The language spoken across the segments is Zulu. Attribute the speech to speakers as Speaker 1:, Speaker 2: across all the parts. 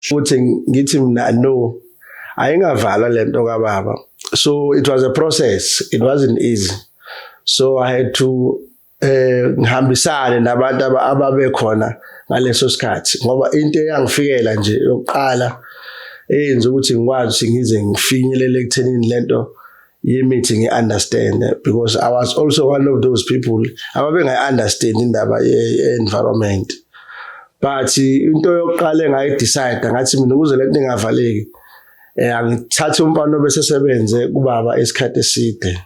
Speaker 1: futhi ngithi mina no ayingavalwa lento kababa so it was a process it wasn't easy so i had to eh ngihambisane nabantu ababekhona ngaleso sikhathi ngoba into eyangifikela nje yokuqala eyenza ukuthi ngikwazi ukuthi ngize ngifinyelele ekuthenini lento yemithi ngi understand because i was also one of those people ababengayi understand indaba ye environment but into yokuqala engayi decide ngathi mina ukuze lento ingavaleki eh angithathe umfana bese sebenze kubaba isikhathi eside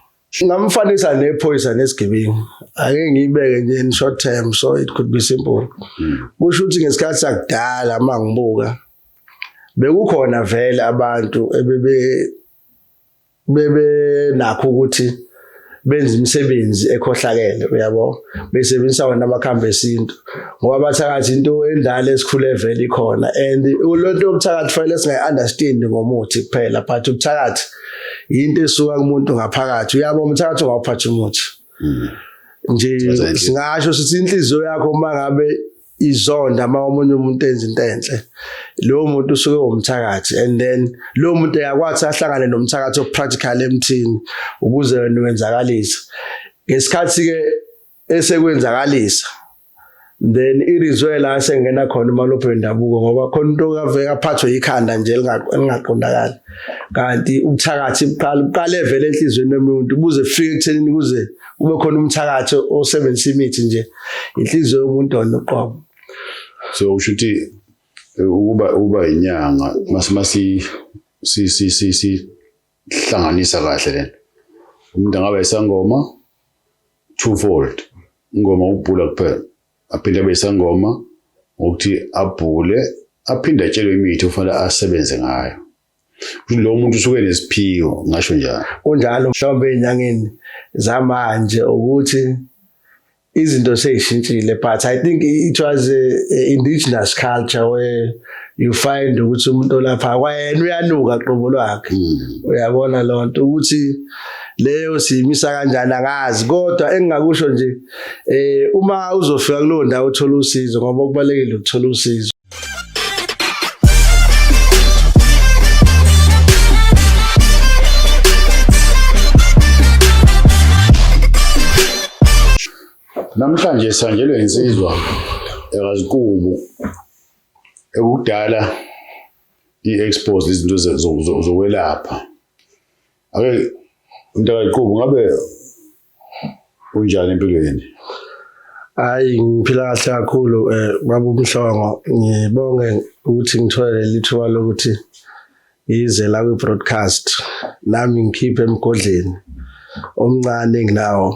Speaker 1: ngamfanisa nephoyisa nesigebengu ake ngiyibeke nje in short term so it could be simple hmm. kusho ukuthi ngesikhathi sakudala mangibuka bekukhona vele abantu ebebe bebenakho ukuthi benza imisebenzi ekhohlakele uyabo besebenzisa wona amakhambi esintu ngoba bathakathi into endala esikhule vele ikhona and lonto yokuthakathi fanele singayi understand ngomuthi kuphela but ukuthakathi into esuka kumuntu ngaphakathi uyabo umthakathi ongawuphatha umuthi hmm. nje singasho sithi inhliziyo yakho mangabe izonda uma omunye umuntu enza into enhle lowo muntu usuke womthakathi and then lowo muntu yakwathi ahlangane nomthakathi opractical emthini ukuze wena wenzakalise ngesikhathi ke esekwenzakalisa then irizwe la sengena khona umalophe wendabuko ngoba khona into kaveke aphathwe ikhanda nje elingaqondakali kanti ubuthakathi buqala buqale vele enhlizweni yomuntu buze fike ekuthenini kuze kube khona umthakathi osebenzisa imithi nje inhliziyo yomuntu ona uqobo so
Speaker 2: usho ukuthi ukuba uba inyanga masi si si si si hlanganisa kahle lento umuntu angabe isangoma twofold ingoma ubhula kuphela aphinde abe isangoma ukuthi abhule aphinde atshelwe imithi ufanele asebenze ngayo lo muntu usuke nesiphiwo ngasho njalo kunjalo mhlawumbe
Speaker 1: enyangeni zamanje ukuthi izinto seyishintshile but i think it was a, a indigenous culture where you find ukuthi umuntu olapha kwayena uyanuka qobo lwakhe hmm. uyabona lonto ukuthi leyo siyimisa kanjani angazi kodwa engingakusho nje eh uma uzofika kulo ndawo uthola usizo ngoba kubalekile ukuthola usizo
Speaker 2: Namhlanje sihanjelwe insizwa ekaziqubu ekudala i-expose izinto zokwelapha. Ake umntakaziqubu ngabe Unjani empilweni? Hayi
Speaker 1: ngiphila kahle kakhulu eh baba uMhlongo ngibonge ukuthi ngithole leli thuba lokuthi yize la kwi broadcast nami ngikhiphe emgodleni omncane enginawo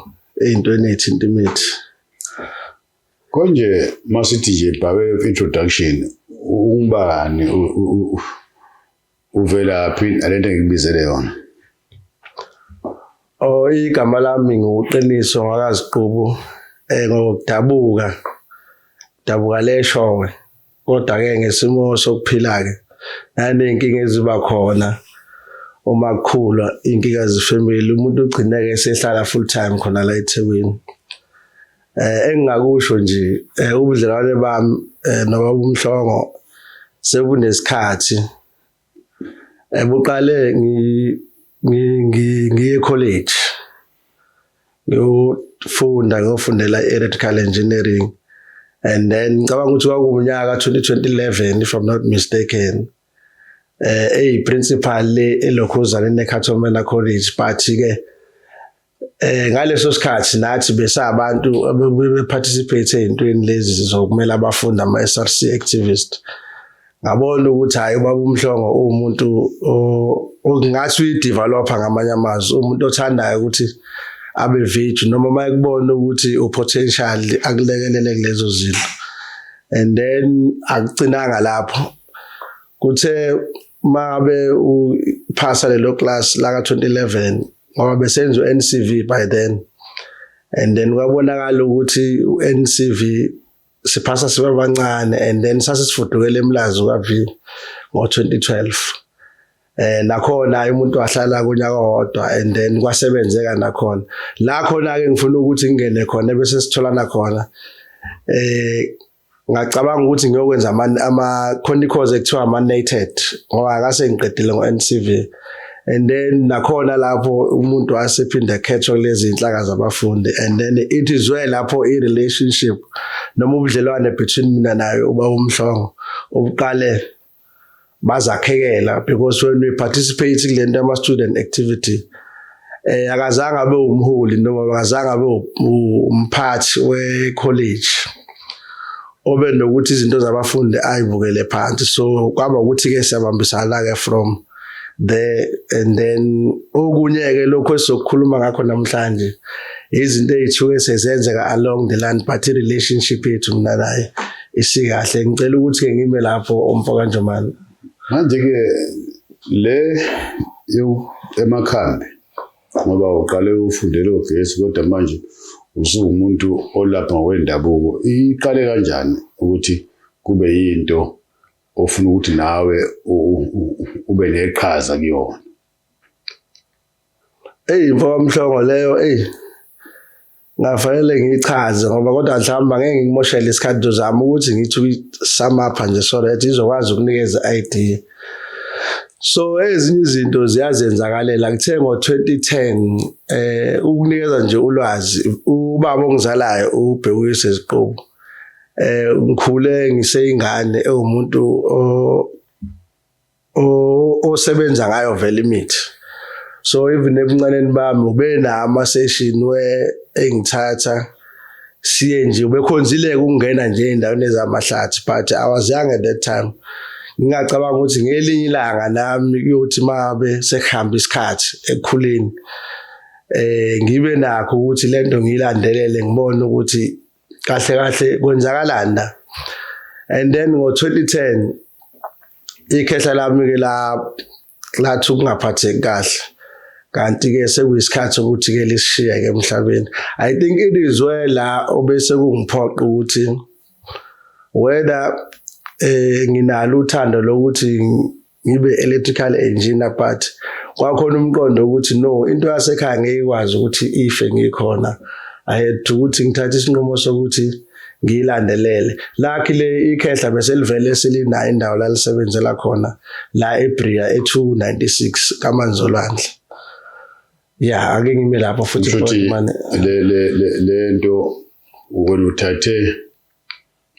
Speaker 1: eyintweni ethinta imithi konje
Speaker 2: masithi nje bhawe introduction ungubani Uvelaphi nalento engikubizele yona? Oh igama lami nguqiniso
Speaker 1: ngakaziqubu eh ngokudabuka dabuka leshowe kodwa ke ngesimo sokuphila ke nanenkinga eziba khona uma kukhula inkinga zefamily umuntu ugcineke esehlala full time khona la eThekwini eh engingakusho nje eh, ubudlelwane bami eh, noma umhlongo sebunesikhathi ebuqale eh, ngi ngiye college ngiyofunda ngiyofundela electrical engineering and then ngicabanga ukuthi kwakuwunyaka 2011 if i'm not mistaken eh eyi principal le elokhuzana neCatholmena College but ke eh ngaleso sikhathi nathi besabantu abebuye participate ezintweni lezi zokumela abafundi ama SRC activist ngabona ukuthi hayi ubaba umhlongo umuntu ongathi uyideveloper ngamanye amazwi umuntu othandayo ukuthi abe virgin noma mayekubona ukuthi upotential akulekelele kulezo zinto and then akucinanga lapho kuthe mabe uphasa lelo class la ka 2011 ngoba besenza uNCV by then and then kwabonakala ukuthi uNCV siphasa sibabancane and then sasisifudukela emlazi kaVi ngo-2012 eh nakhona umuntu wahlala kunyaka wodwa and then kwasebenzeka nakhona la khona ke ngifuna ukuthi ngingene khona bese sitholana khona eh ngacabanga ukuthi ngiyokwenza ama ama khona course ekuthiwa ama nated ngoba akase ngiqedile ngo NCV and then nakhona lapho umuntu wasephinde khethwa kulezi inhlaka zabafundi and then it is well lapho i relationship noma ubudlelwane between mina naye uba umhlongo ubuqale bazakhekela because when we participate kule nto ama student activity eh akazange abe umholi noma akazange abe umphathi we college obe nokuthi izinto zabafundi ayibukele phansi so kwaba ukuthi ke siyabambisana ke from the and then okunye ke lokho esizokhuluma ngakho namhlanje izinto ezithuke sezenzeka along the land but relationship yethu mina naye isikahle ngicela ukuthi ke ngime lapho umfoka Njomane manje ke
Speaker 2: le emakhanda ngoba uqale ufundele ogesi kodwa manje usuwumuntu olapha ngokwendabuko iqale kanjani ukuthi kube yinto ofuna ukuthi nawe ube neqhaza kuyona
Speaker 1: eyi mfokamhlongo leyo eyi ngafanele ngiyichaze ngoba kodwa mhlawumbe angeke ngikumoshele isikhathi ndozama ukuthi ngithi ukuyisamapha nje so that izokwazi ukunikeza i-idea so ezinye izinto ziyazenzakalela kuthe ngo-2010 eh ukunikeza nje ulwazi ubaba ongizalayo ubhekuyise iziqubu eh ngikhule ngiseyingane ewumuntu osebenza ngayo vele imithi so even ebuncaneni bami ube nama session we engithatha siye nje ubekhonzileke ukungena nje endaweni ezamahlathi but i was young at that time ngingacabanga ukuthi ngelinye ilanga nami kuyothi mabe sekuhamba isikhathi ekukhuleni eh ngibe nakho ukuthi lento ngilandelele ngibone ukuthi kahle kahle kwenzakalani la and then ngo-2010 ikhehla lami ke la lathi ukungaphatheki kahle kanti-ke sekuyisikhathi ukuthi-ke lisishiyeke emhlabeni i think it is where la obese kungiphoqa ukuthi whether um nginalo uthando lokuthi ngibe electrical engineer but kwakhona umqondo ukuthi no into yasekhaya ngeke ikwazi ukuthi ife ngikhona i had to ukuthi ngithathe isinqumo sokuthi ngiyilandelele lakhi le ikhehla bese livele selinayo indawo lalisebenzela khona la eBria e296 kaManzolwandle ya ake ngime lapho futhi manje le le
Speaker 2: le lento ukuthathe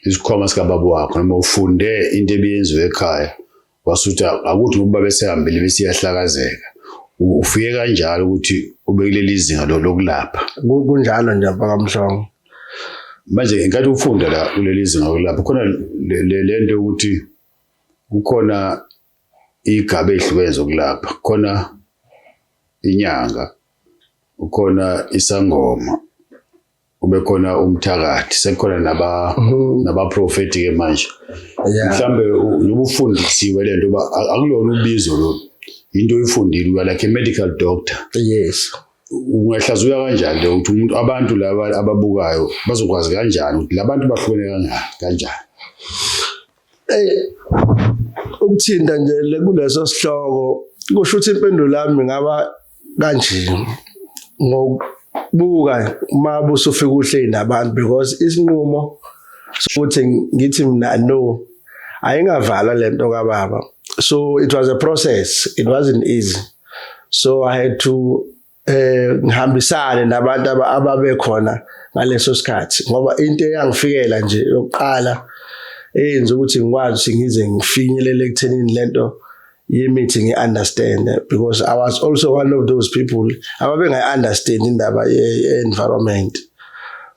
Speaker 2: isikhwama sikababa wakho noma ufunde into ebiyenziwe ekhaya wasuthi akuthi ngoba besehambile besiyahlakazeka ufike kanjalo ukuthi ubekuleli zinga lokulapha kunjalo nje
Speaker 1: bakamhlongo manje
Speaker 2: ngenkathi ufunda la kuleli zinga lokulapha khona le nto yokuthi kukhona igaba ehlukene zokulapha khona inyanga ukhona isangoma kubekhona umthakathi sekukhona naba mhm. nabaprofeti ke manje mhlambe ubufundisiwe lento uba akulona ubizo lo into oyifundile uya like a medical doctor yes
Speaker 1: ungahlaziya
Speaker 2: kanjani lo ukuthi umuntu abantu laba ababukayo bazokwazi kanjani ukuthi labantu bahlukene kanjani ukuthinta nje kuleso sihloko kusho ukuthi impendulo yami ngaba kanje ngokubuka uma busufika uhle nabantu because isinqumo sokuthi ngithi mina no ayingavalwa lento kababa so it was a process it wasn't easy so i had to eh ngihambisane nabantu ababekhona ngaleso sikhathi ngoba into eyangifikela nje yokuqala eyenza ukuthi ngikwazi ukuthi ngize ngifinyelele ekuthenini lento yemithi ngi-understand because i was also one of those people ababengayi-understand indaba ye-environment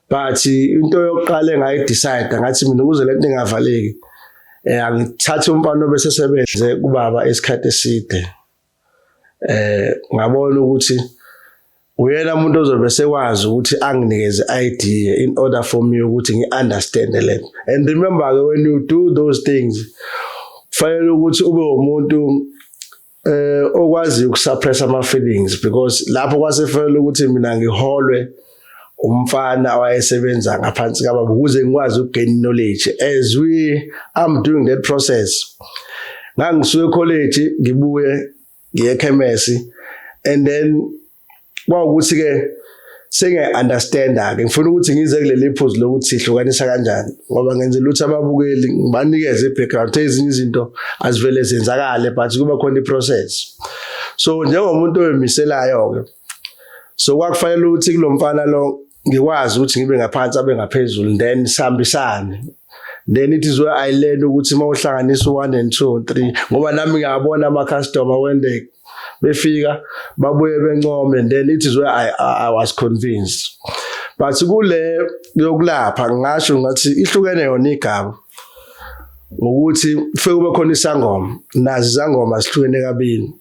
Speaker 2: but into yokuqala engayidicide ngathi mina ukuze le nto ingavaleki um angithathe umfana obesesebenze kubaba isikhathi eside eh ngabona ukuthi uyena umuntu ozobe sekwazi ukuthi anginikeze ID in order for me ukuthi ngi understand lento and remember ke when you do those things fanele ukuthi ube umuntu eh okwazi ukusuppress ama feelings because lapho kwasefanele ukuthi mina ngiholwe umfana owayesebenza ngaphansi kababa ukuze ngikwazi ukugain knowledge as we I'm doing that process ngangisuke college ngibuye ngiye ekhemesi and then kwawukuthi ke senge understand
Speaker 1: ke ngifuna ukuthi ngize kuleli phuzu lokuthi sihlukanisa kanjani ngoba ngenze lutho ababukeli ngibanikeze ibackground ezinye izinto azivele zenzakale but kuba khona iprocess so njengomuntu oyimiselayo ke so kwakufanele ukuthi kulomfana lo ngikwazi ukuthi ngibe ngaphansi abe ngaphezulu then sihambisane then it is where i learn ukuthi uma uhlanganisa u1 and 2 and 3 ngoba nami ngiyabona ama customer when they befika babuye bencome and then it is where i i was convinced but kule yokulapha ngasho ngathi ihlukene yona igaba ngokuthi kufike kube khona isangoma nazi izangoma sihlukene kabili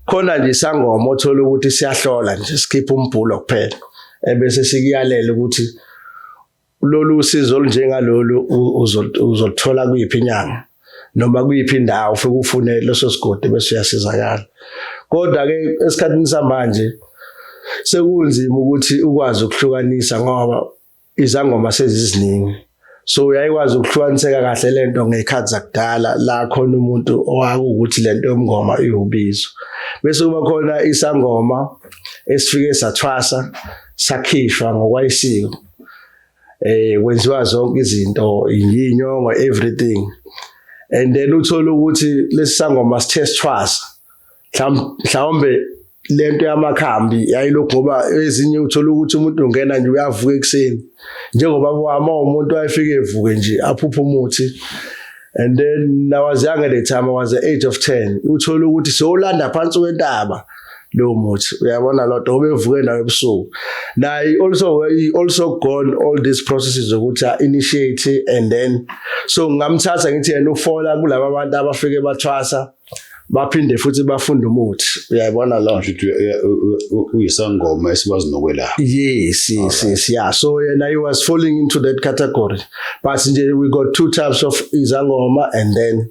Speaker 1: khona nje isangoma othola ukuthi siyahlola nje sikhipha umbhulo kuphela ebese sikuyalela ukuthi lolu usizo olunjengalolu uzoluthola kuyiphi inyanga noma kuyiphi indawo ufike ufune leso sigodi bese uyasizakala kodwa ke esikhathini samanje sekunzima ukuthi ukwazi ukuhlukanisa ngoba izangoma seziziningi so uyayikwazi ukuhlukaniseka kahle lento ngekhathi zakudala la khona umuntu owakuwukuthi lento yomngoma iwubizo bese kuba khona isangoma esifike sathwasa sakhishwa ngokwayisiko eh kwenziwa zonke izinto inyongo everything and then uthola ukuthi lesisangoma sithe sithwasa mhlawumbe lento yamakhambi yayilokhu ngoba ezinye uthola ukuthi umuntu ungena nje uyavuka ekuseni njengoba wama umuntu ayefike evuke nje aphuphe umuthi and then I was younger the time I was the age of 10 uthola ukuthi sewulanda phansi kwentaba lowo muthi uyabona lodwa obevuke nayo ebusuku naye also he also gone all these processes ukuthi initiate and then so ngamthatha ngithi yena ufola kulabo abantu abafike bathwasa baphinde futhi bafunde umuthi uyayibona lo
Speaker 2: uyisangoma esikwazi nokwelapha yes yes yes
Speaker 1: yeah so yena he was falling into that category but nje we got two types of izangoma and then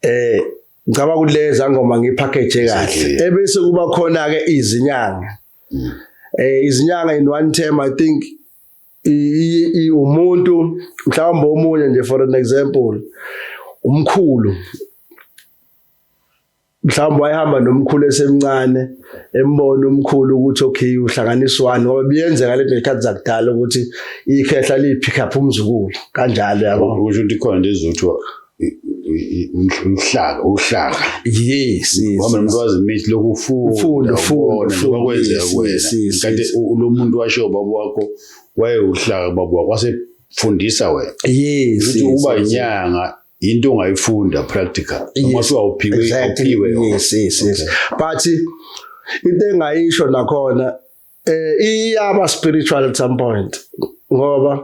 Speaker 1: eh ngicaba ukuthi le zangoma ngipackage kahle ebese kuba khona ke izinyanga mm. eh izinyanga in one term i think umuntu mhlawumbe omunye nje for an example umkhulu mhlawumbe wayehamba nomkhulu esemncane embona umkhulu ukuthi okay uhlanganiswani ngoba biyenzeka lento ngekhathi zakudala ukuthi ikhehla lipick up umzukulu kanjalo yabo kusho ukuthi khona lezothiwa
Speaker 2: uhlaka uhlaka yes
Speaker 1: ngoba umuntu wazi
Speaker 2: imithi lokufunda ufunda ufunda kwakwenzeka kuwena kanti lo muntu washo baba wakho wayewuhlaka baba wakho wasefundisa wena yes ukuthi uba inyanga into ongayifunda practical noma siwawuphiwe uphiwe yes yes yes
Speaker 1: but into engayisho nakhona eh iyaba spiritual at some point ngoba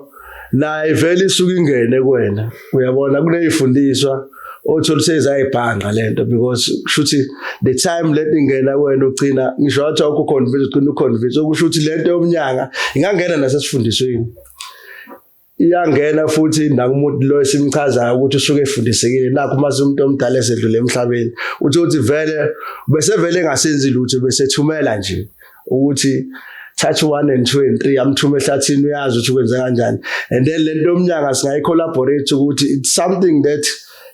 Speaker 1: naye vele isuke ingene kuwena uyabona kuneyifundiswa othola sezayibhanga lento because kushuthi the time let ingena wena ugcina ngisho wathi awukho convince ugcina uconvince okusho ukuthi lento yomnyanga ingangena nasesifundisweni iyangena futhi nakumuntu lo esimchazayo ukuthi usuke efundisekile nakho uma umuntu omdala esedlule emhlabeni uthi uthi vele besevele engasenzi lutho besethumela nje ukuthi thatha u-one and two and three amthume ehlathini uyazi ukuthi ukwenze kanjani and then le nto yomnyanga singayi-collaborate ukuthi it's something that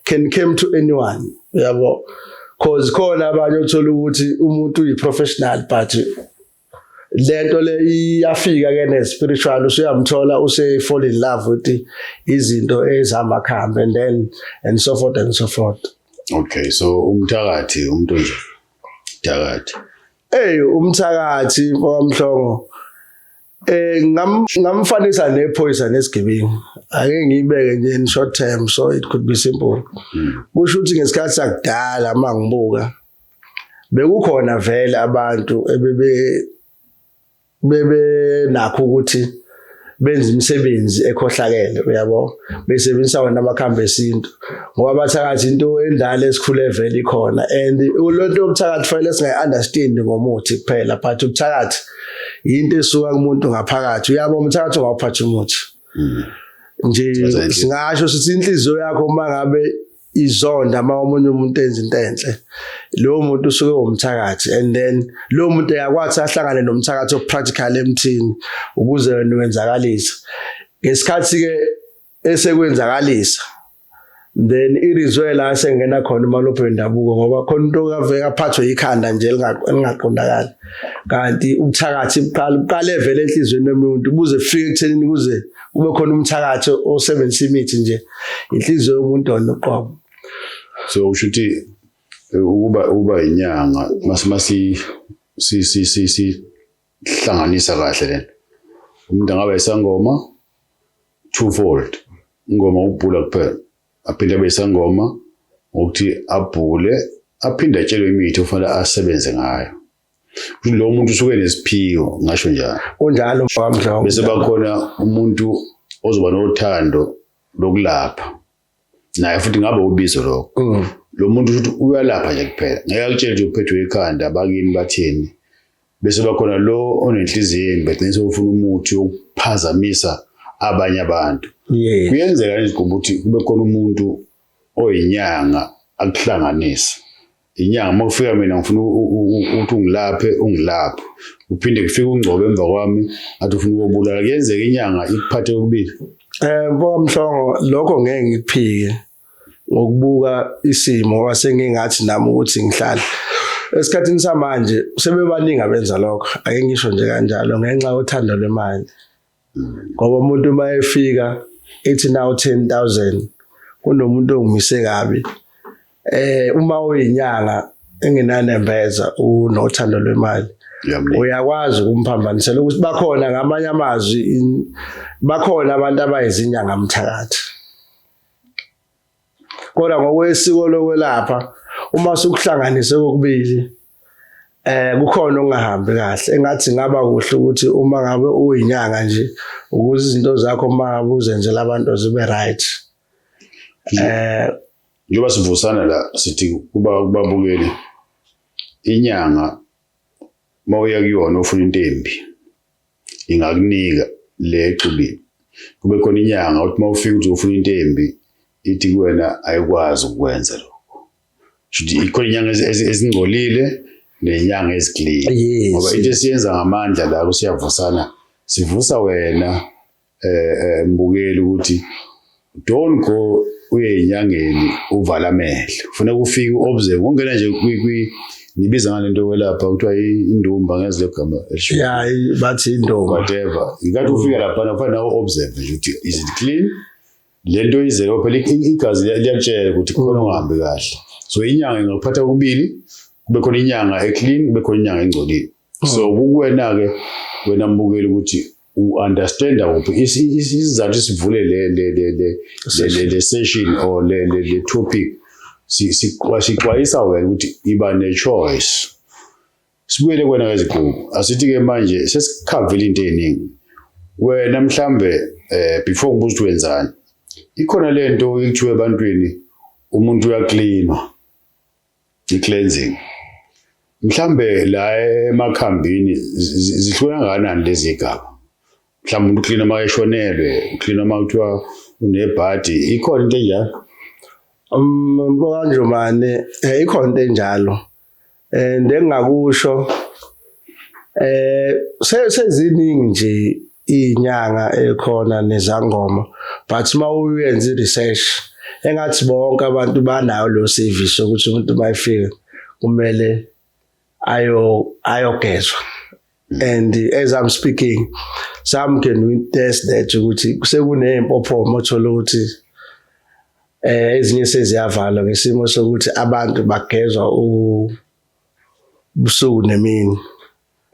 Speaker 1: can came to anyone yabo because khona abanye othola ukuthi umuntu uyi-professional but lento le iyafika ke ne spiritual usuyamthola use fall in love with izinto ezihamba khambe and then and so forth and so forth okay so
Speaker 2: umthakathi umuntu nje thakathi hey
Speaker 1: umthakathi mfowamhlongo eh ngam ngamfanisa nephoyisa nesigebengu ake ngiyibeke nje in short term so it could be simple hmm. kusho ukuthi ngesikhathi sakudala mangibuka bekukhona vele abantu ebebe bebe nakho ukuthi benza imisebenzi ekhohlakele uyabo besebenzisa wona amakhambi esintu ngoba bathakathi into endala esikhule vele ikhona and lonto yokuthakathi fanele singayi understand ngomuthi kuphela but ukuthakathi into esuka kumuntu ngaphakathi uyabo umthakathi ongawuphatha umuthi mm. nje singasho sithi inhliziyo yakho uma ngabe izonda uma omunye umuntu enza into enhle lowo muntu usuke womthakathi and then lowo muntu yakwathi ahlangane nomthakathi opractical emthini ukuze wena wenzakalise ngesikhathi ke esekwenzakalisa then irizwe la sengena khona umalophe wendabuko ngoba khona into kaveka phathwe ikhanda nje lingaqondakali kanti ubuthakathi buqala buqale vele enhlizweni yomuntu buze fike ekuthenini kuze kube khona umthakathi osebenzisa imithi nje inhliziyo yomuntu ona uqobo so
Speaker 2: usho ukuthi ukuba uba inyanga masimasi si si si si hlanganisa kahle lento umuntu angabe isangoma twofold ingoma ukubhula kuphela aphinde abe isangoma ngokuthi abhule aphinde atshelwe imithi ofanele asebenze ngayo lo muntu usuke nesiphiwo ngasho njalo kunjalo bamdlongo
Speaker 1: bese bakhona
Speaker 2: umuntu ozoba nothando lokulapha naye futhi ngabe ubizo lokho mm. lo muntu uthi uyalapha nje kuphela ngeke akutshele nje uphethwe ikhanda bakini bathini bese bakhona lo onenhliziyo embi egcine sewufuna umuthi wokuphazamisa abanye abantu kuyenzeka nje ukuthi kube khona umuntu oyinyanga akuhlanganisa inyanga uma ufika mina ngifuna ukuthi ungilaphe ungilaphe uphinde kufike ungcobe emva kwami athi ufuna ukobulala kuyenzeka inyanga ikuphathe kokubili eh mfoka mhlongo
Speaker 1: lokho ngeke ngikuphike ngokubuka isimo ngoba sengingathi nami ukuthi ngihlala esikhathini samanje sebebaningi abenza lokho ake ngisho nje kanjalo ngenxa yothando lwemali ngoba umuntu uma efika ethi nawu 10000 kunomuntu ongimise kabi eh uma uyinyanga engenanembeza unothando lwemali uyakwazi ukumphambanisela ukuthi bakhona ngamanye amazwi bakhona abantu abayizinyanga mthakathi kodwa ngokwesiko lokwelapha uma sukuhlanganise kokubili eh kukhona ongahambi kahle engathi ngaba kuhle ukuthi uma ngabe uyinyanga nje ukuze izinto zakho uma uzenzela abantu zibe right eh njengoba
Speaker 2: sivusana la sithi kuba kubabukeli inyanga mawuya kuyona ufuna intembi ingakunika le exubile kube khona inyanga uthi uma ufika uthi ufuna into embi ithi kuwena ayikwazi ukwenza lokho shuthi ikhona inyanga ezingcolile nenyanga eziclean ngoba into esiyenza ngamandla la kusiyavusana sivusa wena eh, eh mbukeli ukuthi don't go uye inyangeni uvala amehlo ufuna kufika uobserve ungena nje kwi kwi nibiza ngalento welapha kuthiwa indumba ngezile gama elisho ya bathi
Speaker 1: indumba whatever ingathi
Speaker 2: ufika lapha na kufanele uobserve nje ukuthi is it clean lento izele phela igazi liyakutshela ukuthi khona ungahambi kahle so inyanga ingakuphatha kokubili kube khona inyanga eclean kube khona inyanga engcolile so hmm. kukuwena-ke wena mbukeli ukuthi u-understanda kuphi isizathu sivule le session or le topic sixwayisa wena ukuthi iba ne-choice sibuyele kwena kweziqubu asithi-ke manje sesikhavile into ey'ningi wena mhlambe eh before ngibuza ukuthi wenzani ikhona lento ekuthiwa ebantwini umuntu uyaklinwa i-cleansing mhlambe la emakhambini zihluka kangakanani lezi gaba mhlawumbe umuntu uklina uma eshonelwe uklina uma kuthiwa unebhadi ikhona into enjalo mbokanjomane
Speaker 1: um, eh, ikhona into enjalo and engingakusho eh seziningi nje inyanga ekhona nezangoma but uma uyenza i-research engathi bonke abantu banayo lo service ukuthi umuntu uma efika kumele ayo ayogezwa and as i'm speaking some can witness that ukuthi sekuneyimpophoma othola ukuthi eh ezinye seziyavalwa ngesimo sokuthi abantu bagezwa ubusuku nemini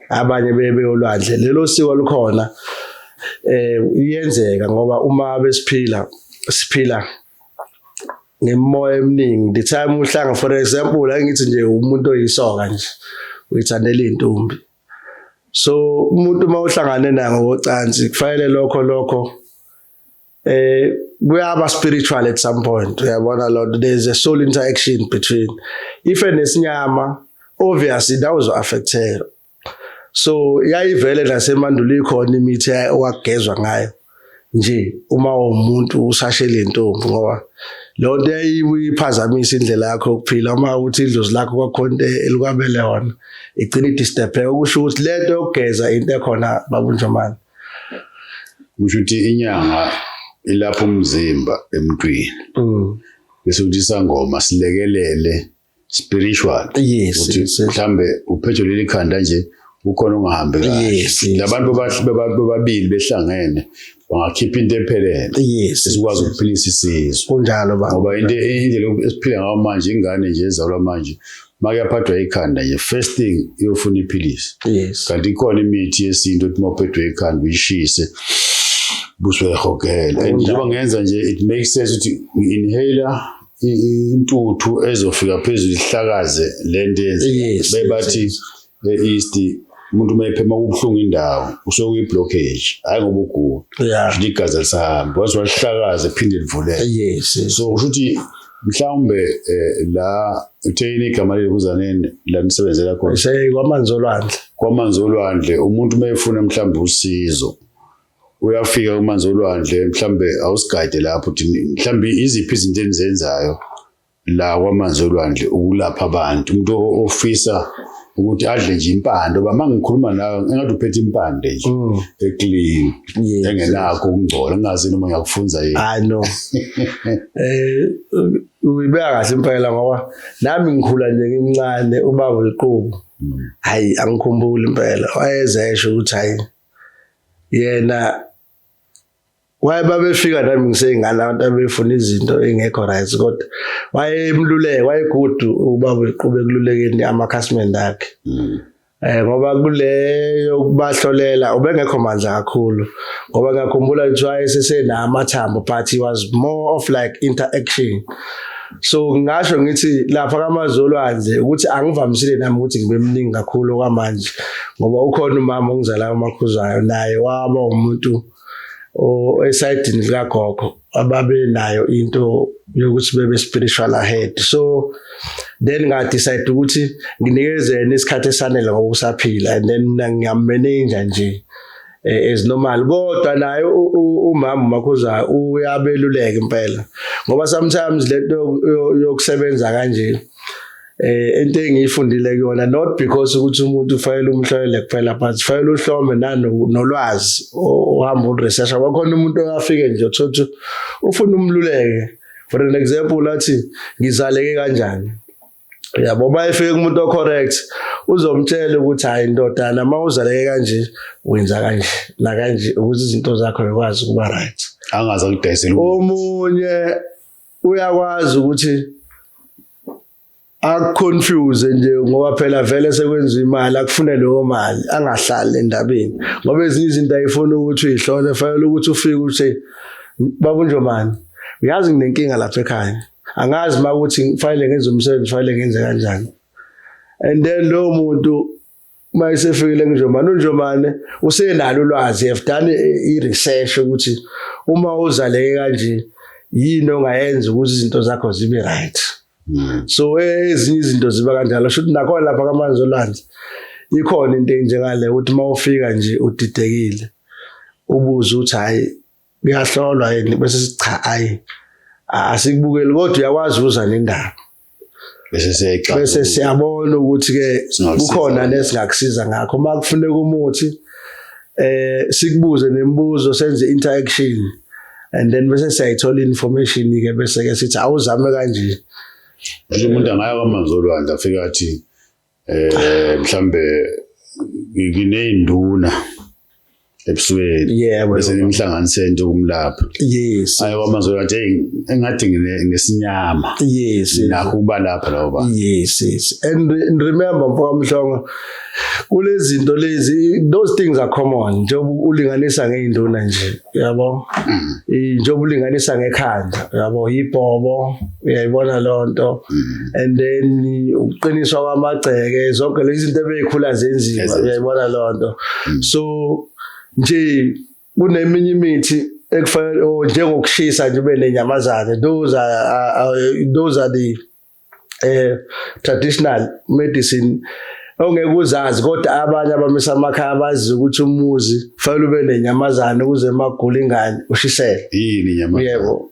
Speaker 1: abanye beye beyolwandle lelo siko likhona eh iyenzeka ngoba uma besiphila siphila ngemoya eminingi the time uhlanga for example angithi nje umuntu oyisoka nje uyithandela intombi so umuntu uma uhlangane naye ngocansi kufanele lokho lokho eh kuyaba spiritual at some point uyabona lord there is a soul interaction between ife nesinyama obviously that was affected so yayivele nasemandulo ikhona imithi owagezwa ngayo nje uma umuntu usashe lentombi ngoba lonto eyiphazamisa indlela yakho yokuphila uma uthi idlozi lakho kwakhonto elikwabele yona igcina idisturb ukusho ukuthi lento yokugeza into ekhona babunjomani
Speaker 2: kusho ukuthi inyanga ilapha umzimba emntwini mm. bese ukuthi isangoma silekelele spiritual ukuthi
Speaker 1: mhlambe
Speaker 2: uphethe leli khanda nje ukhona ongahambi kahle labantu bobabili behlangene bangakhipha into ephelele esikwazi
Speaker 1: ukuphilisa
Speaker 2: isizwe kunjalo ngoba
Speaker 1: indlela
Speaker 2: esiphila ngayo manje ingane nje ezalwa manje makuyaphathwa ikhanda nje first thing iyofuna iphilisi yes kanti ikhona
Speaker 1: imithi
Speaker 2: yesintu ethi mawuphethwe ikhanda uyishise busuyahogela and njengoba ngenza nje it makes sense ukuthi inhaler intuthu ezofika phezulu ihlakaze lento yenze bebathi e-east umuntu uma ephema kubuhlungu indawo usuke kuyi-blockage hhayi ngoba ugula Yeah. shouthi igazi
Speaker 1: alisahambi
Speaker 2: once walihlakaza phinde livuleke Yes. yes. so kusho
Speaker 1: ukuthi
Speaker 2: mhlawumbe eh, la utheyini igama leli kuzaneni la nisebenzela khona Sey kwamanzi olwandle.
Speaker 1: kwamanzi olwandle
Speaker 2: umuntu uma efuna mhlawumbe usizo uyafika kumanzi olwandle mhlawumbe awusigade lapho uthi mhlawumbe iziphi izinto enizenzayo la kwamanzi olwandle ukulapha abantu umuntu ofisa ukuthi adle nje impande oba mangikhuluma nawe engathi uphethe impande nje mm. eclean engenakho
Speaker 1: ukungcola
Speaker 2: ngingazi noma ngiyakufunza yini hayi no
Speaker 1: eh uyibeka kahle impela ngoba nami ngikhula nje ngimncane ubaba uliqubu mm. hayi angikhumbuli impela wayezesho ukuthi hayi yena waye babefika nami ngiseyingane abantu abefuna izinto engekho right kodwa wayemluleke wayegudu ubaba uqhube kululekeni amakhasimende akhe mm. eh ngoba kuleyo kubahlolela ubengekho mandla kakhulu ngoba ngakhumbula ukuthi wayesesenama thambo but he was more of like interaction so ngingasho ngithi lapha kamazolwandle ukuthi angivamisile nami ukuthi ngibe mningi kakhulu kwamanje ngoba ukhona umama ongizala umakhuzayo naye waba umuntu esayidini likagogo ababe nayo into yokuthi bebe spiritual ahead so then ngadecide ukuthi nginikezeni isikhathi esanele ngoba usaphila and then ngiyammeninja nje Eh, as normal kodwa naye umama umakhuza uyabeluleka impela ngoba sometimes lento yokusebenza kanje eh into engiyifundile kuyona not because ukuthi umuntu ufayela umhlolele kuphela but ufayela uhlome nanolwazi ohamba uresearch kwakhona umuntu oyafike nje uthothi ufuna umluleke for an example lathi ngizaleke kanjani yabo uma efike kumuntu ocorrect uzomtshela ukuthi hayi ndodana uma uzaleke kanje wenza kanje nakanje ukuze izinto zakho zikwazi ukuba right angaze akudayisele
Speaker 2: omunye
Speaker 1: uyakwazi ukuthi akuconfuse nje ngoba phela vele sekwenza imali akufune leyo mali angahlali endabeni ngoba ezinye izinto ayifuna ukuthi uyihlole fanele ukuthi ufike uthi babunjomani uyazi nginenkinga lapha ekhaya angazi uma ukuthi ngifanele ngenze umsebenzi ufanele ngenze kanjani and then lowo muntu uma esefikile kunjomane unjomane usenalo ulwazi have done i-research ukuthi uma uzaleke kanje yini ongayenza ukuthi izinto zakho zibe right hmm. so ezinye izinto ziba kanjalo shuthi nakhona lapha kamanzi olwandle ikhona into enjengale ukuthi uma ufika nje udidekile ubuze ukuthi hayi kuyahlolwa yini bese sicha ayi asikubukeli kodwa uyakwazi uza nendaba bese siyayixa bese siyabona ukuthi ke kukhona nesingakusiza ngakho uma kufuneka umuthi eh sikubuze nemibuzo senze interaction and then bese siyayithola information ke bese ke sithi awuzame kanje nje umuntu
Speaker 2: angaya kwamanzolwandle afika athi eh mhlambe ngineyinduna ebusweni yebo bese nimhlanganiseni nje kumlapha yes ayo
Speaker 1: amazwe athi
Speaker 2: engathi nginesinyama yes
Speaker 1: nakho kuba lapha
Speaker 2: lawo ba yes yes and
Speaker 1: remember mfaka mhlongo kulezinto lezi those things are common njengoba ulinganisa ngeinduna nje yabo mm. njengoba ulinganisa ngekhanda yabo yibhobo uyayibona loo nto mm. and then ukuqiniswa kwamagceke zonke lezi zinto ebeyikhula zenziwa uyayibona loo nto mm. so nje kuneminye imithi ekufanele oh, njengokushisa nje ube nenyamazane those are, are those are the eh traditional medicine ongeke uzazi kodwa abanye abamisa amakhaya abazi ukuthi umuzi fanele ube nenyamazane ukuze magula ingane ushisele yini inyamazane yebo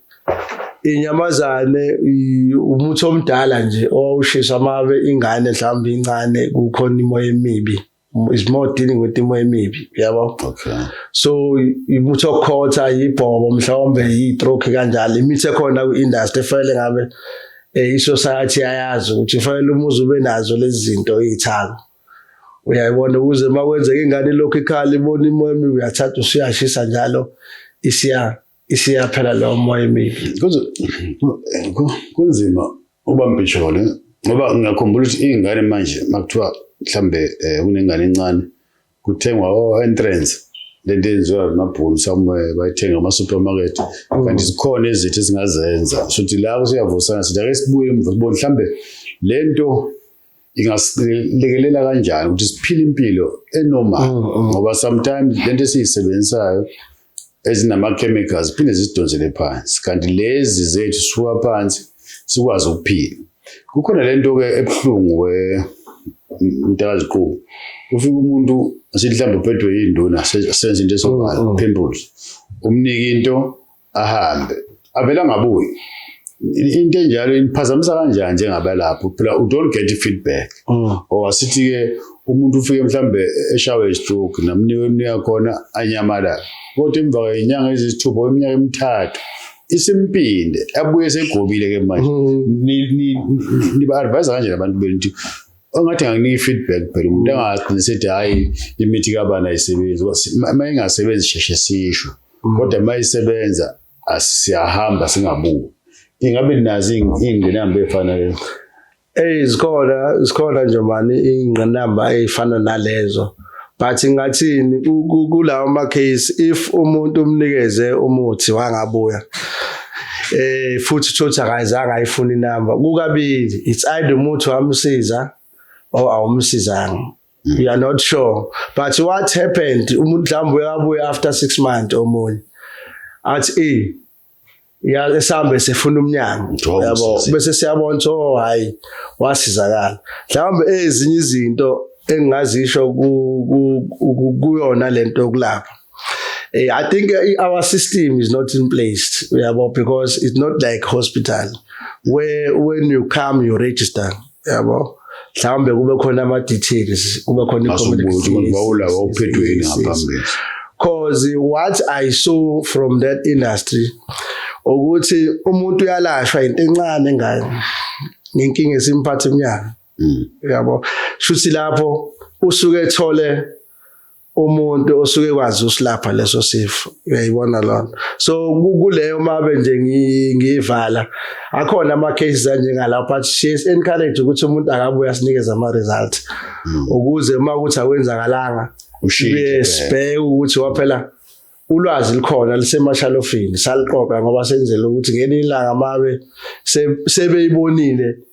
Speaker 1: inyamazane umuthi omdala nje owawushisa amabe ingane mhlawumbe incane kukhona imoya emibi is more dealing with imoya emibi yabo okay so umuthi okhotha yibhobo mhlawumbe yistroke kanjalo imithi ekhona ku-industry efanele ngabe eh, i-society ayazi ukuthi kufanele umuzi ube nazo lezi zinto iy'thako uyayibona ukuze uma kwenzeka ingane lokhu ikhala ibona imoya emibi uyathatha usuyashisa njalo isiya isiyaphela lo moya emibi kunzima
Speaker 2: uba mbhishole ngoba ngiyakhumbula ukuthi iy'ngane manje makuthiwa mhlawumbe um eh, kunengane encane kuthengwa o-entrance oh, lento eyenziwa amabhunu somewhere bayithenga ama-supermarket mm. kanti zikhona ezithi ezingazenza sothi la kusiyavusana sithi ake sibuye emva sibone mhlawumbe le nto ingasilekelela kanjani ukuthi siphile impilo enormal mm, mm. ngoba sometimes lento esiyisebenzisayo ezinama-chemicals phinde zisidonsele phansi kanti lezi zethu sisuka phansi sikwazi ukuphila kukhona le nto-ke ebuhlungu mntakaziqubu ufike umuntu sihlamba uphethwe yinduna senza into esobala mm, pimples umnike into ahambe avele angabuyi into enjalo iniphazamisa kanjani njengabalapho phela u don't get feedback mm. or asithi ke umuntu ufike mhlambe eshawe stroke namniwe emnika khona anyamala kodwa emva kwenyanga ezisithupha iminyaka emithathu isimpinde abuye segobile ke manje mm. niba advise kanje abantu benu ukuthi ongathi anginika feedback phela umuntu mm. angagcina sethi hayi imithi kabani ayisebenzi uma ingasebenzi sheshe sisho mm. kodwa uma isebenza siyahamba singabuki ingabe nazi iy'ngqinamba ey'fana lezo eyi zikhona zikhona nje mani iy'ngqinamba ey'fana nalezo but ngathini kulawo ma-case if umuntu umnikeze umuthi wangabuya eh futhi thothi akayizanga ayifuna inamba kukabili it's either umuthi wamsiza or awumsizanga we are not sure but what happened umuntu mhlawumbe uyabuya after six months omunye athi e ya esambe sefuna umnyango yabo bese siyabona ukuthi oh hayi wasizakala mhlawumbe ezinye izinto engingazisho kuyona lento yokulapha eh, I think our system is not in place yabo because it's not like hospital where when you come you register yabo mhlawumbe kube khona ama details kube khona i-communication bawula wawuphethwe yini ngaphambili cause what i saw from that industry ukuthi umuntu uyalashwa into encane ngayo ngenkinga esimphatha iminyaka mm. yabo shuthi lapho usuke ethole umuntu osuke kwazi usilapha leso sifo uyayibona lona so kuleyo mabe nje ngiyivala akhona ama cases anjengalawo but she is encourage ukuthi umuntu akabuya sinikeza ama result hmm. ukuze uma ukuthi akwenzakalanga ushiye sibheke ukuthi waphela ulwazi likhona lisemashalofini saliqoqa ngoba senzele ukuthi ngelinye ilanga mabe sebeyibonile se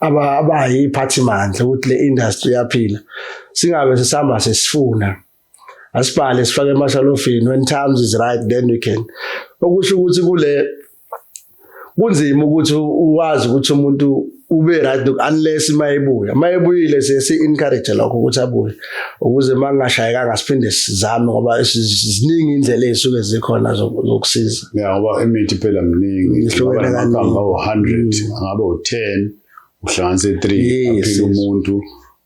Speaker 2: abayiphathimandla ukuthi le industry yaphila singabe sisihamba sesifuna asibhale sifake emashalofini when times is right then we can okusho ukuthi kule kunzima ukuthi uwazi ukuthi umuntu ube right unless mayebuya mayebuyile siye si encourage lokho ukuthi abuye ukuze mangingashayekanga siphinde sizame ngoba ziningi indlela ezisuke zikhona zokusiza ya ngoba imithi phela miningi ihlukene kanini ngabe u100 ngabe u10 uhlanganise 3 aphila umuntu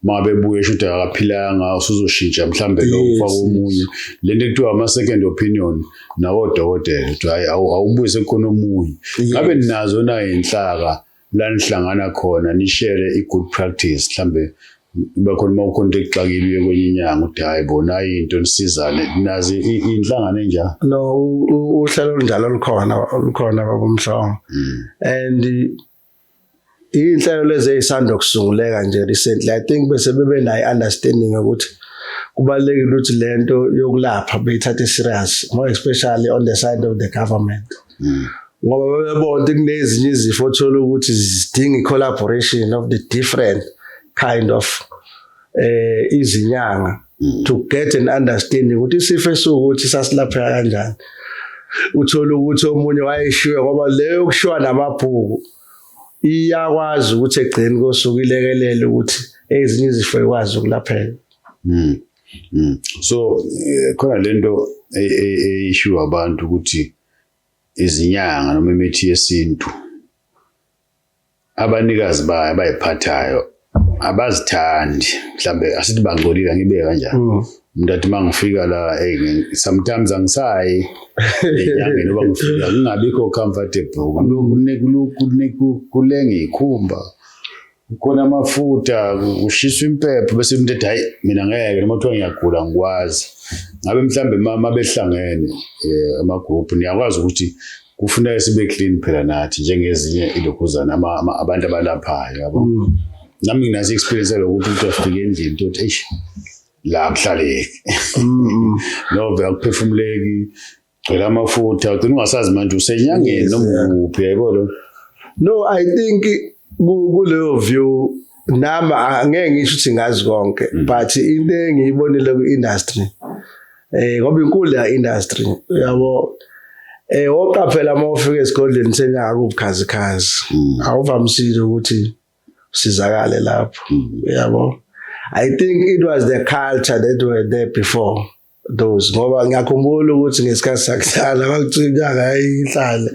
Speaker 2: uma bebuye sho ukuthi akaphilanga usuzoshintsha mhlawumbe lo ufaka omunye le nto ekuthiwa ama-second opinion nakodokotela ukuthi hhayi awubuye sekukhona omunye ngabe ninazo na inhlaka la nihlangana khona nishare i-good practice mhlambe kuba khona uma ukhona into ekuxakile uye kwenye inyanga uthi hhayi bo nayi into nisizane nazi i- inhlangano enjalo no u- u-
Speaker 1: uhlelo olunjalo lukhona lukhona babomhlongo Mm. and iy'nhlelo lezi ey'sanda kusunguleka nje recently i think bese bebe nayo i-understanding yokuthi kubalulekile ukuthi le nto yokulapha beyithathe serious more especially on the side of the government mm. ngoba bebebona ukuthi kunezinye izifo othola ukuthi zidinga i-collaboration of the different kind of eh izinyanga mm. to get an understanding ukuthi isifo esiwukuthi sasilapheka kanjani uthola ukuthi omunye wayeshiwe ngoba leyo kushiwa namabhuku iyakwazi ukuthi egcini kosuku ilekelele ukuthi ezinye izifo ikwazi ukulapheka mm. Mm. So
Speaker 2: eh, khona lento eyishiwa abantu ukuthi izinyanga noma imithi yesintu abanikazi bayo abayiphathayo abazithandi mhlambe asithi bangcolile ngibe kanjani mm. umuntu athi uma ngifika la sometimes angisayi enyangeni noba ngifika ngingabikho comfortable kulengiyikhumba Kukhona amafuta kushiswa impepho bese umuntu ethi hayi mina ngeke noma kuthiwa ngiyagula ngikwazi. Ngabe mhlambe mama behlangene eh, ama group niyakwazi ukuthi kufuneka sibe clean phela nathi njengezinye ilokhuzana abantu abalaphayo yabo. Mm. Nami nginazi experience lokuthi umuntu afike endlini uthi eish la kuhlaleki. Mm, mm. No vele kuphefumuleki gcwele amafutha ugcina ungasazi manje usenyangeni noma ukuphi yebo lo no i
Speaker 1: think kuleyo view nami angeke ngisho ukuthi ngazi konke mm. but into engiyibonile ku-industry eh ngoba inkulu ya industry yabo eh oqaphela uma ufika esigodlweni senyaka kubukhazikhazi mm. awuvamisile ukuthi usizakale lapho mm. yabo i think it was the culture that were there before those ngoba ngiyakhumbula ukuthi ngesikhathi sakudala kwakucikanga yayihlale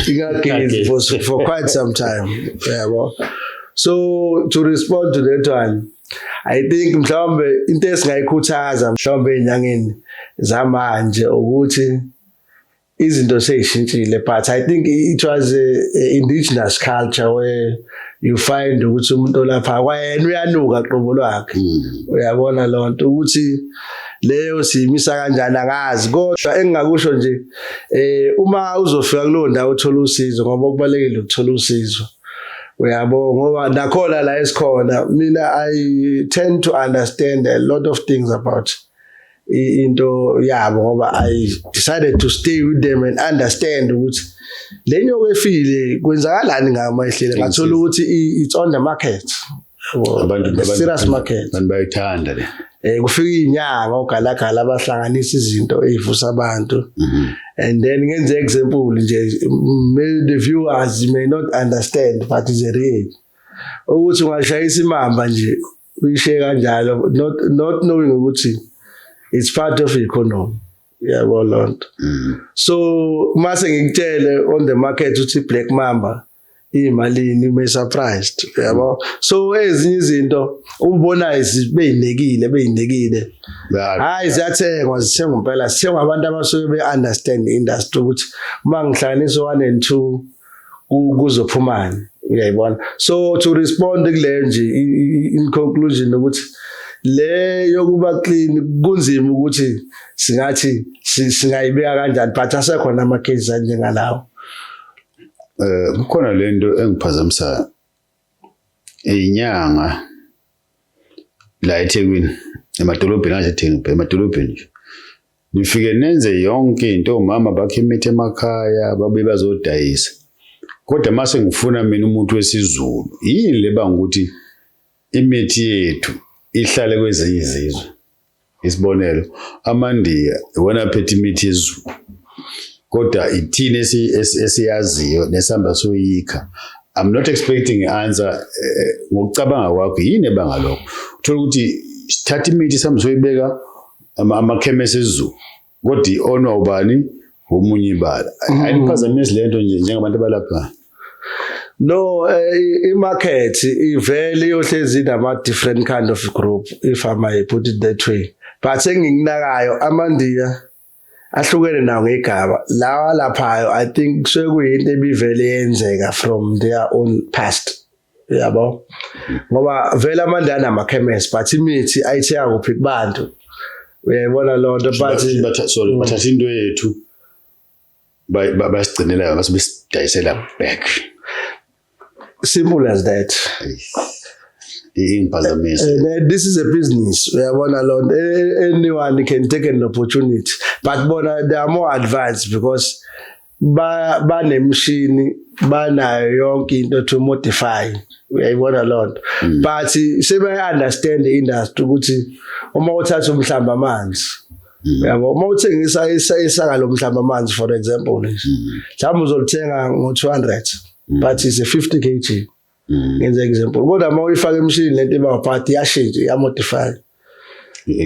Speaker 1: ingagezi for, for quite some time yabo so to respond to that one i think mhlawumbe into esingayikhuthaza mhlawumbe enyangeni zamanje ukuthi izinto seyishintshile but i think it was a, a indigenous culture where you find ukuthi umuntu olapha kwayena uyanuka qobo lwakhe hmm. uyabona lonto ukuthi leyo siyimisa kanjani angazi kodwa engingakusho nje eh uma uzofika kulo ndawo uthola usizo ngoba okubalekile ukuthola usizo uyabo ngoba nakhona la esikhona mina i tend to understand a lot of things about into yabo ngoba i decided to stay with them and understand ukuthi lenyo kwefile kwenzakalani ngama ihlele ngathola ukuthi it's on the market abantu
Speaker 2: serious market
Speaker 1: abantu bayithanda le
Speaker 2: eh kufika
Speaker 1: inyanga ogalagala abahlanganisa izinto ezivusa abantu mhm. and then ngenze example nje the viewers may not understand but is real ukuthi ungashayisa imamba nje uyishiye kanjalo not not knowing ukuthi it's part of economy yabo lonto mm. so mase ngikutshele on the market uthi black mamba imalini ume surprised yabo so ezinye izinto ubona izibeyinekile beyinekile hayi ziyathengwa zithengwa impela sithengwa abantu abasuke be understand industry ukuthi uma ngihlanganisa 1 and 2 kuzophumani uyayibona so to respond kule nje in conclusion ukuthi le yokuba clean kunzima ukuthi singathi singayibeka kanjani but asekhona ama cases anjengalawo
Speaker 2: eh kukhona lento engiphazamisayo inyanga la eThekwini emadolobheni asethengi emadolobheni nje nifike nenze yonke into omama bakhe imithi emakhaya babe bazodayisa kodwa mase ngifuna mina umuntu wesizulu yini leba ukuthi imithi yethu ihlale kwezinye izizwe Isibonelo, amaNdiya iwona aphethe imithi yezulu kodwa ithini esiyaziyo nesihamba soyikha I'm not expecting answer eh, eh, ngokucabanga kwakho yini ebanga lokho uthola ukuthi thatha imithi sihamba soyibeka amakhemesi ezulu kodwa i-onwa ubani womunye ibala mm. ayiniphazamisi le nto nje njengabantu abalaphayo No,
Speaker 1: eh, i-market ivele iyohlezi inama-different kind of group if I may put it that way. But engikunakayo amandiya ahlukene nawo ngegaba. Lawa laphayo I think sekuyinto ebivele yenzeka from their own past. yabo ngoba vele amandla anamakhemesi but imithi ayithenga kuphi kubantu uyayibona loo nto but sorry mm. bathatha into
Speaker 2: yethu basigcinela base besidayisela back simple
Speaker 1: as that ingiphazamisa eh, eh, this is a business uyabona loo nto eh, anyone can take an opportunity but bona they are more advanced because ba banemshini banayo yonke into to modify uyayibona lonto mm. but sebe understand the industry ukuthi uma uthatha umhlamba amanzi mm. yabo uma uthengisa isaka lomhlamba amanzi for example mm. mhlawumbe uzolithenga ngo 200 but is a 50 kg ngenza example kodwa uma uyifaka emshini lento iba part iyashintsha iyamodify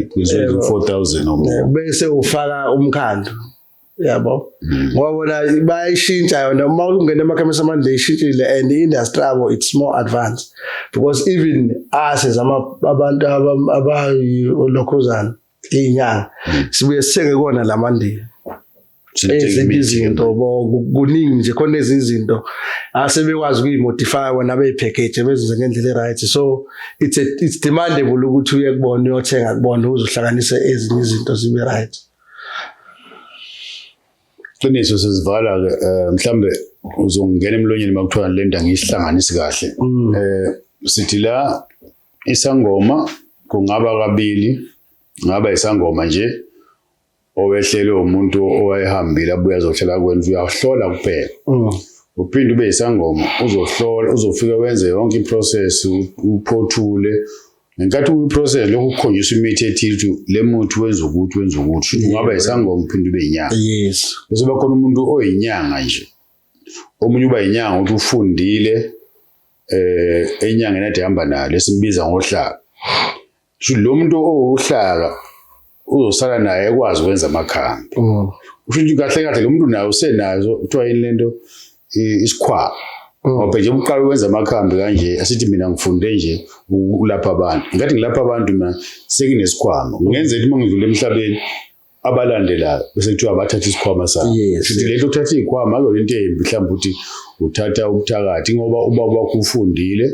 Speaker 1: kuzwe 4000 or
Speaker 2: more bese ufaka
Speaker 1: umkhandlu yabo mm. ngoba bona bayishintsha yona uma ungena emakhemisi amanje ishintshile and industry abo it's more advanced because even us as ama abantu abayolokhuzana inyanga mm. sibuye sithenge kona lamandiya ezinye izinto kuningi nje khona ezinye izinto asebekwazi ukuyimodify wena beyipackage bezenze ngendlela eright so it's a, it's demandable ukuthi uye kubona uyothenga kubona uzohlanganisa ezinye izinto zibe right
Speaker 2: Qiniso sizivala ke eh, mhlambe uzongena emlonyeni makuthiwa le nda ngiyihlanganisi kahle. Mm. Eh sithi la isangoma kungaba kabili ngaba isangoma nje owehlele umuntu owayehambile abuye azohlala kwenu uyahlola kuphela. Mm. uphinde ube yisangoma uzohlola uzofika wenze yonke iprocess uphothule ngenkathi uyiprocess lokho kukhonjiswa imithi ethile ukuthi le muthi wenza ukuthi wenza ukuthi shuthi ungaba yisangoma uphinde ube yinyanga yes bese bakhona
Speaker 1: umuntu
Speaker 2: oyinyanga nje omunye uba yinyanga ukuthi ufundile eh enyangeni ade hamba nayo lesimbiza ngohlaka shuthi lo muntu owuhlaka uzosala naye ekwazi ukwenza amakhambi mm. usho ukuthi kahle kahle lo muntu naye usenazo kuthiwa yini lento isikhwama mm. ngoba nje uqala ukwenza amakhambi kanje asithi mina ngifunde nje ukulapha abantu ngathi ngilapha abantu mina sekinesikhwama ngenzela uma ngidlula emhlabeni abalandelayo bese kuthiwa bathatha isikhwama sabo futhi lento uthatha izikhwama akuyona into embi mhlawumbe ukuthi uthatha ubuthakathi ngoba ubaba wakho ufundile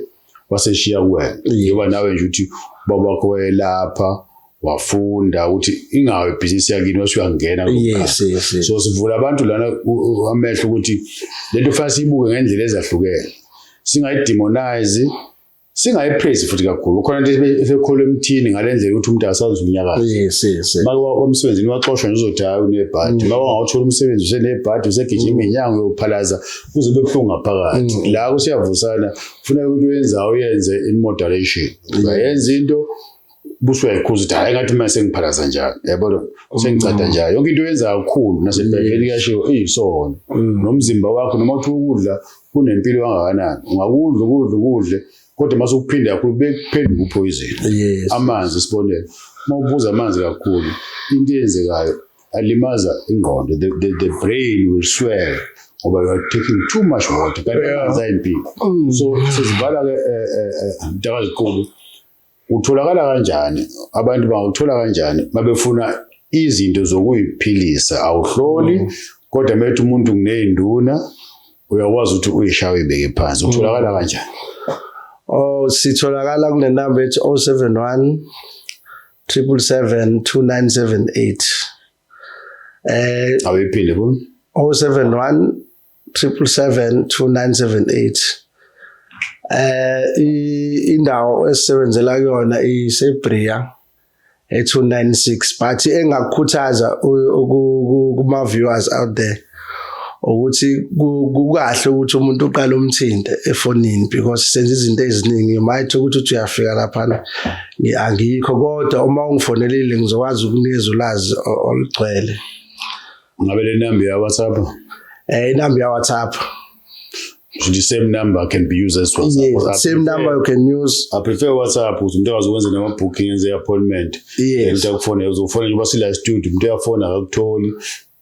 Speaker 2: waseshiya kuwena njengoba nawe nje ukuthi ubaba wakho wayelapha wafunda ukuthi ingawe ibhizinisi yakini wase uyangena yes, yes, yes. so sivula abantu lana amehlo ukuthi lento fanele siyibuke ngendlela ezahlukene singayidemonize singayipraise futhi kakhulu khona nje esekholwa emthini ngalendlela ukuthi umuntu akasazi unyakaza yes yes maka wamsebenzini waxoshwa nje uzothi hayi unebhadi mm. maka wawuthola umsebenzi usenebhadi usegijima mm. inyango yokuphalaza kuze bebuhlungu ngaphakathi mm. la kusiyavusana kufuneka into yenza uyenze in moderation uzayenza into busuke ayikhuza ukuthi hayi ngathi uma sengiphalaza njalo yabona oh. sengicada njalo yonke into yenza kakhulu nasebhekeni kuyashiwo eyisona mm. nomzimba wakho noma uthi ukudla kunempilo kangakanani ungakudla ukudla ukudle kodwa uma sekuphinde kakhulu bekuphenduka uphoyizini amanzi isibonelo uma ubuza amanzi kakhulu into eyenzekayo alimaza ingqondo the, the, the brain will swell ngoba you are taking too much water kanti Yeah. amanzi ayimpilo Mm. so sizivala ke eh, eh, eh, mtakaziqulu utholakala kanjani abantu bangawuthola kanjani babefuna izinto zokuyiphilisa awuhloli kodwa methi umuntu kuneyinduna uyakwazi ukuthi uyishawe ibeke phansi utholakala kanjani Oh sitholakala
Speaker 1: kule number ethi 071 triple seven two nine seven eight eh awephile
Speaker 2: bo 071 triple seven two
Speaker 1: nine seven eight eh indawo esisebenzela kuyona isebria e296 but engakukhuthaza kuma viewers out there ukuthi kukahle ukuthi umuntu uqale umthinte efonini because senza izinto eziningi you might ukuthi uthi uyafika laphana angikho kodwa uma ungifonelile ngizokwazi ukunikeza ulazi olugcwele
Speaker 2: ngabe le number ya WhatsApp eh inamba ya
Speaker 1: WhatsApp
Speaker 2: the same number can be used as WhatsApp. Yes, I same prefer, number you
Speaker 1: can use. I prefer WhatsApp
Speaker 2: ukuthi umuntu akwazi ukwenza nama booking enze appointment. Yes. Umuntu akufone uzofona njengoba sila studio umuntu uyafona akakutholi.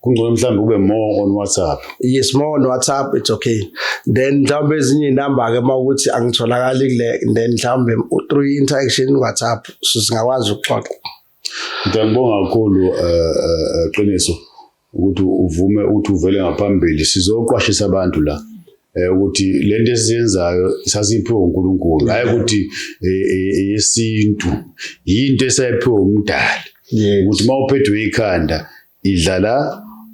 Speaker 2: kungcono mhlawumbe kube more on whatsapp yes more on
Speaker 1: whatsapp it's okay then mhlawumbe ezinye inamba ke uma ukuthi angitholakali kule then mhlawumbe through interaction whatsapp sizingakwazi ukuxoxa ngiyabonga
Speaker 2: kakhulu eh, eh, eh, qiniso ukuthi uvume ukuthi uvele ngaphambili sizoqwashisa abantu la Eh, ukuthi lento esiyenzayo sasiphiwe uNkulunkulu hayi ukuthi eh, eh, eyesintu yinto esayiphiwe umdali ukuthi mawuphethwe ikhanda idla la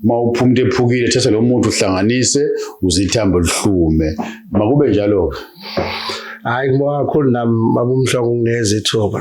Speaker 2: uma uphuma into ephukile thatha lo muntu uhlanganise uze ithambo lihlume makube njalo-ke hhayi
Speaker 1: ngibonga kakhulu nami babumhloko
Speaker 2: ungineza
Speaker 1: ithuba